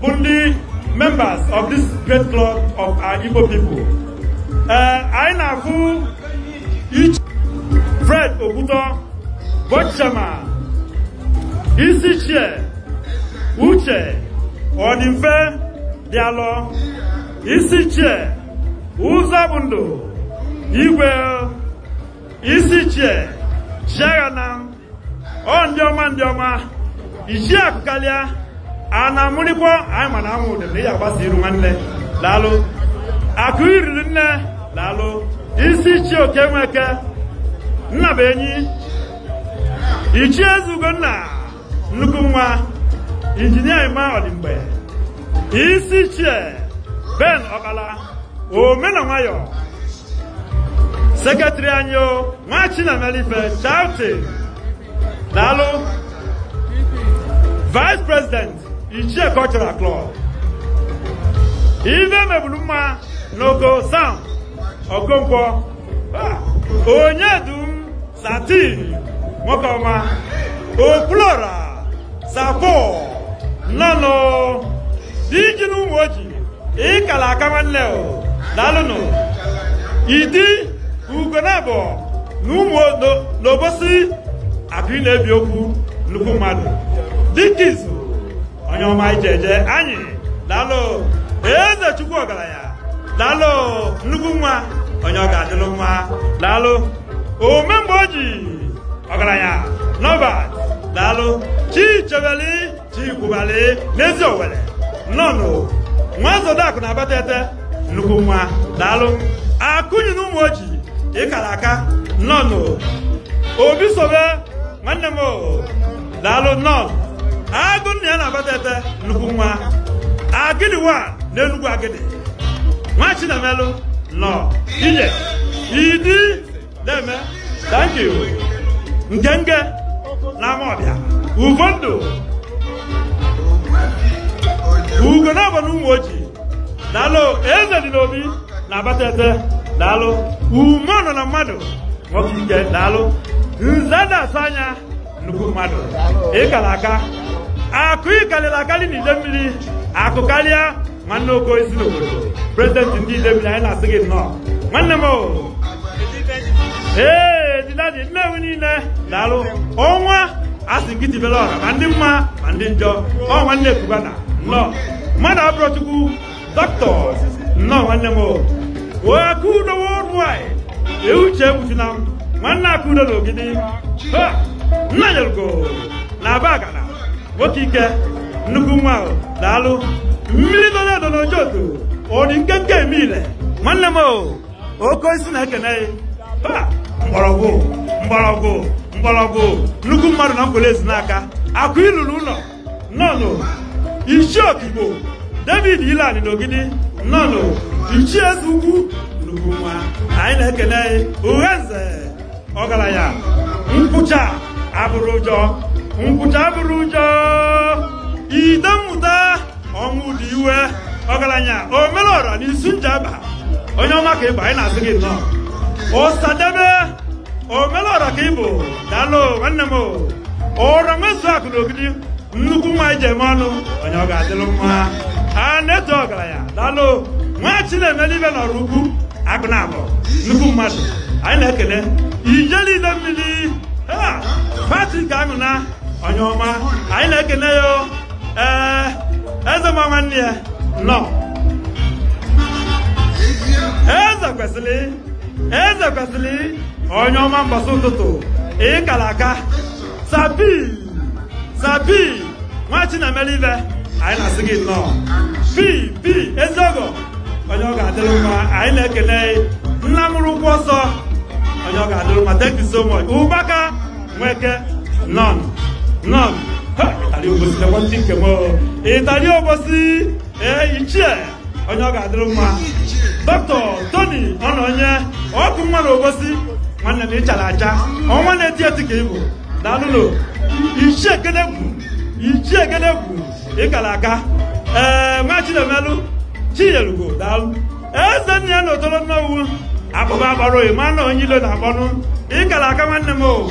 bụ ndị members of this great club of our Igbo people ee anyị na-afụ ichie Fred Okwutọ bụ chairman isi ichie uche ọdịmfe dị alọ isi ichie ụzọ bụ ndụ igwe isi ichie chiaghanam ọ ndị ọma ndị ọma ichie akụkalịa a na-amụrịkwa anyị ma na anwụ ụdị na ị agbasa iru nwanne daalụ akụ ilili nne daalụ isi ichie oke nweke nna bụ enyi ichie ezugo nna nnukwu nwa injinia emma ọdịmgbe isi ichie ben okpala ome na nwayọ secretary anyị o nwa chinamelife chauti daalụ vice president ichie cultural club ife mebulu mma n'oko sam okonkwo ah, onye du satin nwoke ọma okwulora sapo nnọnụ diji n'ụmụoji ịkala aka nwanne o daalụnụ idi ugonabọ na ụmụ n'obosi akụ na-ebi okwu nnukwu mmadụ dịka izu onye ọma ije eje anyị daalụ eze chukwu ọgalanya daalụ nnukwu nwa onye ọ ga-adịlụ mma daalụ ome mgbe o ji ọgalanya n'ọba daalụ chi chebeli chikwubali n'eziowelle nnọnụ nwa zodakụ na abatete nnukwu nwa daalụ akụnyi n'ụmụoji ịkala aka nnọnụ obi sobe nwanne m daalụ nnọnụ agụ nna ya na abatete nnukwu nwa agidi wa n'enugwu agidi nwa chinemelụ nọ ije idi Deme, thank you. Ngenge n'Amawbia, Ufondu, Ugonabọ n'Ụmụoji, daalụ eze dị n'obi na abatete, daalụ mmụọ nọ na mmadụ, nwoke ike, daalụ nze na-asụ anya nnukwu mmadụ, ịkala aka, akụ ịkalịlị akalị n'Idemili, akụkalịa nwanne ogo isi n'obodo prezidenti ndị idemili anyị na-asị gị nnọọ nwanne m ee didadi nnewi niine daalụ ọnwa a sị gị tibelụ ọra ma ndị mma ma ndị njọ ọ nwanne kubana nnọọ mmadụ abụrọ chukwu dọkịta nnọọ nwanne m o akụ udo worldwide ee uche egbuchunam nwanne akụ udo na ogidi nna nyelugo na abagana nwoke ike nnukwu nwa ahụ daalụ mmiri dọrọ edo n'ojoto ọ dị nkenke eme ile nwanne m o oke osisi na-ekene ya Ha! mgbọrọgwụ mgbọrọgwụ mgbọrọgwụ nnukwu mmadụ na nkwelle ezunaka akụ lulu ụnọ nnọọ nụ ichie okigbo david ilani n'ogidi nnọọ nụ ichie eze ugwu nnukwu nwa anyị na-ekene ya uhe nze ọgaranya nkwụcha abụrọ ụjọ nkwụcha abụrọ ụjọ ide mmụta ọnwụdiwe ọgaranya omelọra na isu njaba onye ọma ka ị bụ anyị na-asị gị nnọọ ọsadebe omelọra ka ị bụ daalụ nwanne m ọra nwezu akụ na ogidi nnukwu nwa e ji eme ọnụ onye ọ ga-adịlụ mma a na-eto ọgaranya daalụ nwa chi na-emelụ ife n'ọraukwu akụ na abụọ nnukwu mmadụ anyị na-ekene ijele idemili patrik anwụna onye ọma anyị na-ekene ya o. ee eze ma nwanne ya nnọọ eze kwesịrị eze kwesịrị onye ọma mbọsị ụtụtụ ị kara aka sabi sabi nwa chi na-emelụ ife anyị na-asị gị nnọọ bi bi ezi ọgọ onye ọ ga-adịrị mma anyị na-ekene nna mụrụ ụgwọ ọsọ onye ọ ga-adịrị mma thank you so much ụbaka nweke nnọọ nnọọ ịtali obosi ịtali obosi ee ichie onye ọ ga-adịrị mma dọktọ toni ọnọnye ọkụ nwa na obosi nwanne m ị chara acha ọnwa na-eti eti ka ị bụ daalụ nụ ichie ekenegwu ichie ekenegwu ị kara aka ee nwa chinemelụ chinyelugo daalụ eze nna ya na otolo nnewi akpọba akpọrọ ịma na onye ilo na-akpọnụ ị kara aka nwanne m o